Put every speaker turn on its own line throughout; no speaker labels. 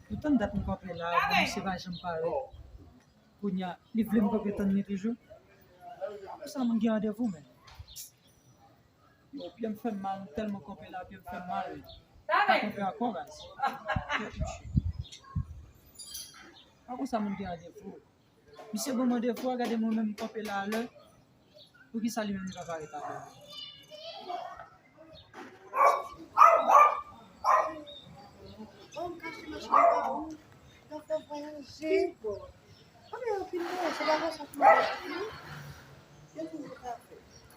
Poutan dat mwen pa pale la, mwen misye pa janm pale. Kounya, li vle mwen pa pale tann li toujou. Pou sa mwen gen randevou men. Yow pyem fem mal m telman kanpe la pyem fem mal pa kanpe anko raz kè touche pa konsa moun gen randevou misye banm randevou a gade mwen menm m kanpe la alè poukisa li menm li papa ret avèm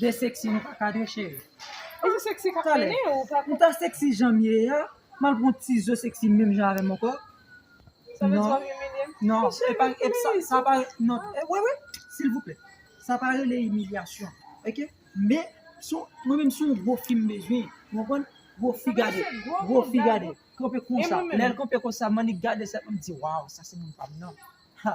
De sexy nou pa kadre
cheri. E se sexy
kap mennen ou pa. Ou ta
sexy
janm ye
a, mal pran yon ti zo sexy menm jan avèm ankò. Sa
vle di wap imilyem? Non, e pa
e sa sa pa non wi wi silvouplè. Sa pa rele imilyasyon ok men sou mwen menm sou gwo fi m bezwen ou konprann gwo fi gade gwo fi gade kanpe konsa lèl kanpe konsa m annik gade sa m di waw sa se moun pa m nan ha.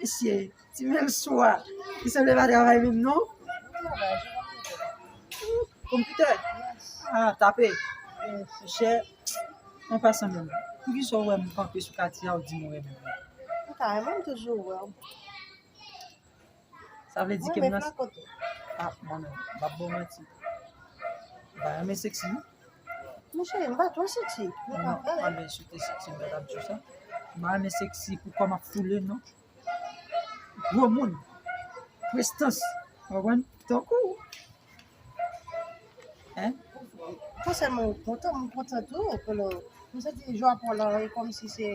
Misye, ti menm sou a, li sanble pa travay menm non? Konpitè?
A, tape?
Chè, an pasan menm, pou ki sa ou wè m kanpe sou kati a ou di m ou renmen m? Ou ta renmen m
toujou wè w.
Sa vle di ke m nan...
A, mwen menm,
m pa bò manti. M pa renmen seksi. Mwen
cheri, m pa twò seksi. Mwen pa renmen. Mwen renmen
sou te seksi, m pa ta di w sa. M pa renmen seksi pou kò m ap foule, non. Gwo moun. Prestans. Ou konprann? Tankou ou. Hein? Fòsèman
ou kontan, mwen kontan tou. Mwen santi jwa pou w la, e kòmsi se...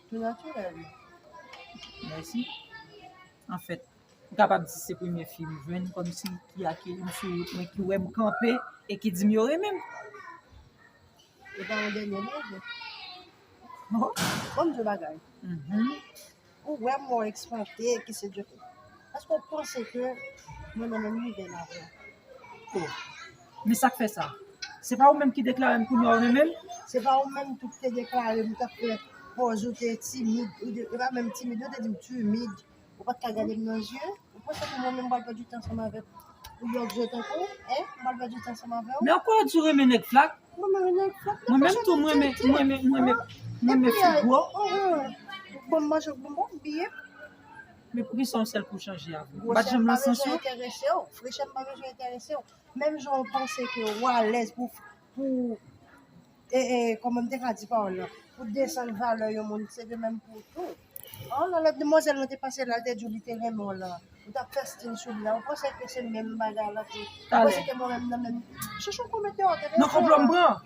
Li naturel wi.
Merci. En fait, m kapab di se premye fi m jwenn kom si ki akeyi m sou wout mwen, ki wè m kanpe e ki di m yo renmen m.
E pa yon dènye non vre.
Kom di
bagay. Mhm. Ou wè mwen eksponte ki se djote. Eske ou panse ke mwen nan menm nivel avè? Ou.
Men sa k fè sa? Se pa ou menm ki deklare m kounye a ou renmen m? Se pa ou menm
tou ki te deklare m ou t ap fè pòz ou te timid, e pa menm timid non, ou te di m timid, ou pa t ka gade m nan je? Ou panse ke mwen menm m pral pèdi tan ansanm avèk yon lòt je tankou w? Hein? M pral pèdi tan ansanm avè w? Men anko ou di ou renmen
nèg flak? M renmen nèg flak men pa janm ap di l di. M renmen fi gwo.
Bon m manje bon bon byen. Men
poukisa yon sèl kou w chanje avè m? Ou pa t janm nan sans yo? Gwosè m pa
bezwen enterese w, frechè m pa bezwen enterese w. Menm jan ou panse ke ou alèz pou pou e e kòman m te ka di pawòl la pou desann valè yon moun se de menm pou ou tou. An nan lòt demwazèl lan te pase la l te di w li te renmen w lan ou t ap fè stil sou li la ou panse ke se menm bagay la tou ou panse ke mwen menm nan menm chouchou w komèt yon èrè. Nan konplo m pran.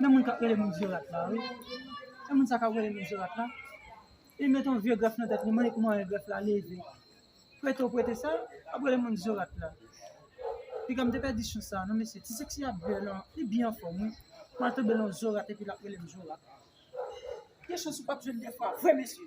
Men moun kap rele Montserrat la wi. E moun sa kap rele Montserrat la. Li met yon vye grèf nan tèt li, mande ki mwayen grèf la leve. Prete ou prete sa, ap rele Montserrat la. Piga m te pèdi chans sa non mesye. Ti seksi a byen lan, li byen anfòm wi. Mwen al tonbe lan Zorat epi lap rele m Zorat. Gen chans ou pap jwenn de fwa vre mesye.